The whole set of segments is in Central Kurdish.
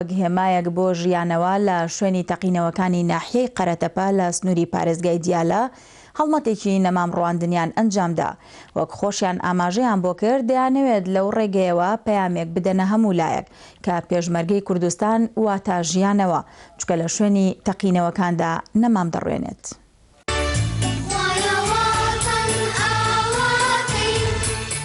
وەک هێمایەک بۆ ژیانەوە لە شوێنی تەقینەوەکانی ناحیەی قەرەتەپە لە سنووری پارێزگای دیالە هەڵمەتێکی نەمام ڕواندنیان ئەنجامدا، وەک خۆشیان ئاماژەیان بۆ کرد دەیانەوێت لەو ڕێگەیەوە پەیامێک بدەنە هەموو لایەک کە پێشمەرگەی کوردستان واتا ژیانەوە چکە لە شوێنی تەقینەوەکاندا نەمام دەڕوێنێت.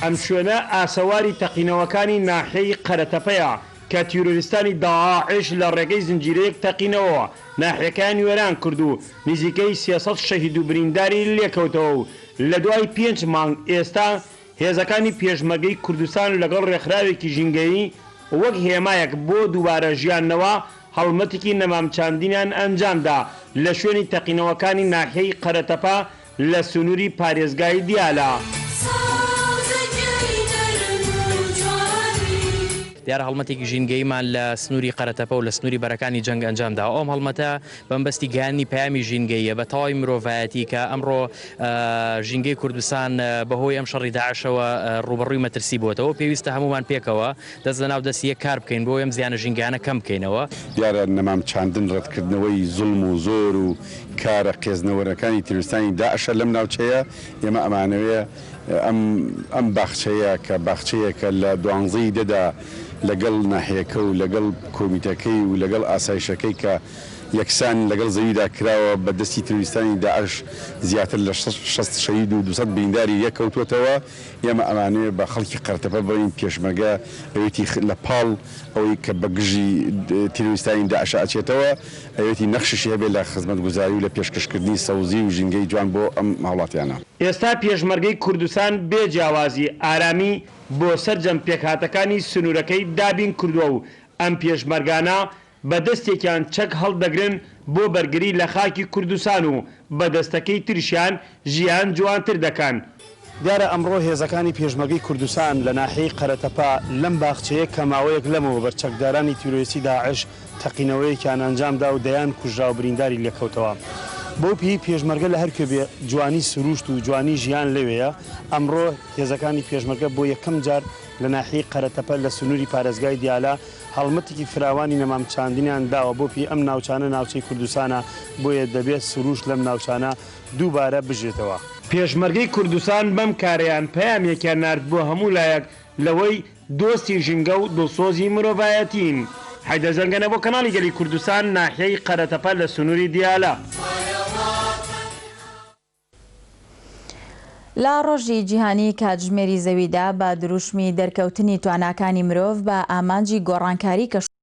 ئەم شوێنە ئاسەواری تەقینەوەکانی ناحیەی قەرەتەپەیە کە تیرۆریستانی داعش لە ڕێگەی زنجیرەیەک تەقینەوەوە ناحیەکەیان وێران کرد و نزیکەی سێ سەد شەهید و برینداری لێکەوتەوە و لە دوای پێنج مانگ ئێستا هێزەکانی پێشمەرگەی کوردستان لەگەڵ ڕێکخراوێکی ژینگەیی وەک هێمایەک بۆ دووبارە ژیاندنەوە هەڵمەتێکی نەمام چاندنیان ئەنجامدا لە شوێنی تەقینەوەکانی ناحیەی قەرەتەپە لە سنووری پارێزگای دیالە. دیارە هەڵمەتێکی ژینگەییمان لە سنووری قەرەتەپە و لە سنووری بەرەکانی جەنگ ئەنجامداوە، ئەم هەڵمەتە بە مەبەستی گەیاندنی پەیامی ژینگەییە بە تەواوی مرۆڤایەتی کە ئەمڕۆ ژینگەی کوردستان بەهۆی ئەم شەڕی داعشەوە ڕووبەڕووی مەترسی بووەتەوە و پێویستە هەموومان پێکەوە دەست لەناو دەست یەک کار بکەین بۆ ئەم زیانە ژینگەیانە کەم بکەینەوە. دیارە نەمام چاندن ڕەتکردنەوەی زوڵم و زۆر و کارە قێزنەوەرەکانی تیرۆریستانی داعشە لەم ناوچەیە، ئێمە ئەمانەوێ ئەم ئەم باخچەیە کە باخچەیەکە لە دوانزەی دەدا لەگەڵ ناحیەکە و لەگەڵ کۆمیتەکەی و لەگەڵ ئاسایشەکەی کە یەکسان لەگەڵ زەویدا کراوە بە دەستی تیرۆریستانی داعش زیاتر لە شەست شەهید و دوو سەد برینداری لێ کەوتووەتەوە، ئێمە ئەمانەوێ بە خەڵکی قەرتەپە بڵێین پێشمەرگە ئەوێتی لە پاڵ ئەوەی کە بە گژی تیرۆریستانی داعشە ئەچێتەوە ئەوێتی نەخشیشی هەبێ لە خزمەتگوزاری و لە پێشکەشکردنی سەوزی و ژینگەی جوان بۆ ئەم هاوڵاتیانە. ئێستا پێشمەرگەی کوردستان بێ جیاوازی ئارامی بۆ سەرجەم پێکهاتەکانی سنوورەکەی دابین کردووە و ئەم پێشمەرگانە بە دەستێکیان چەک هەڵدەگرن بۆ بەرگری لە خاکی کوردستان و بە دەستەکەی تریشیان ژیان جوانتر دەکەن. دیارە ئەمڕۆ هێزەکانی پێشمەرگەی کوردستان لە ناحیەی قەرەتەپە لەم باخچەیە کە ماوەیەک لەمەوبەر چەکدارانی تیرۆریستی داعش تەقینەوەیەکیان ئەنجامدا و دەیان کوژرا و برینداری لێکەوتەوە بەو پێیەی پێشمەرگە لە هەرکوێ بێ جوانی سرووشت و جوانی ژیان لەوێیە ئەمڕۆ هێزەکانی پێشمەرگە بۆ یەکەم جار لە ناحیەی قەرەتەپە لە سنووری پارێزگای دیالە هەڵمەتێکی فراوانی نەمام چاندنیان داوە بۆ پێی ئەم ناوچانە ناوچەی کوردستانە بۆیە دەبێت سرووشت لەم ناوچانە دووبارە بژێتەوە. پێشمەرگەی کوردستان بەم کارەیان پەیامێکیان نارد بۆ هەموو لایەک لەوەی دۆستی ژینگە و دڵسۆزی مرۆڤایەتین. حەیدەر زەنگەنە بۆ کەناڵی گەلی کوردستان ناحیەی قەرەتەپە لە سنووری دیالە. لە ڕۆژی جیهانی کاتژمێری زەویدا بە دروشمی دەرکەوتنی تواناکانی مرۆڤ بە ئامانجی گۆڕانکاری کەشوهەوا،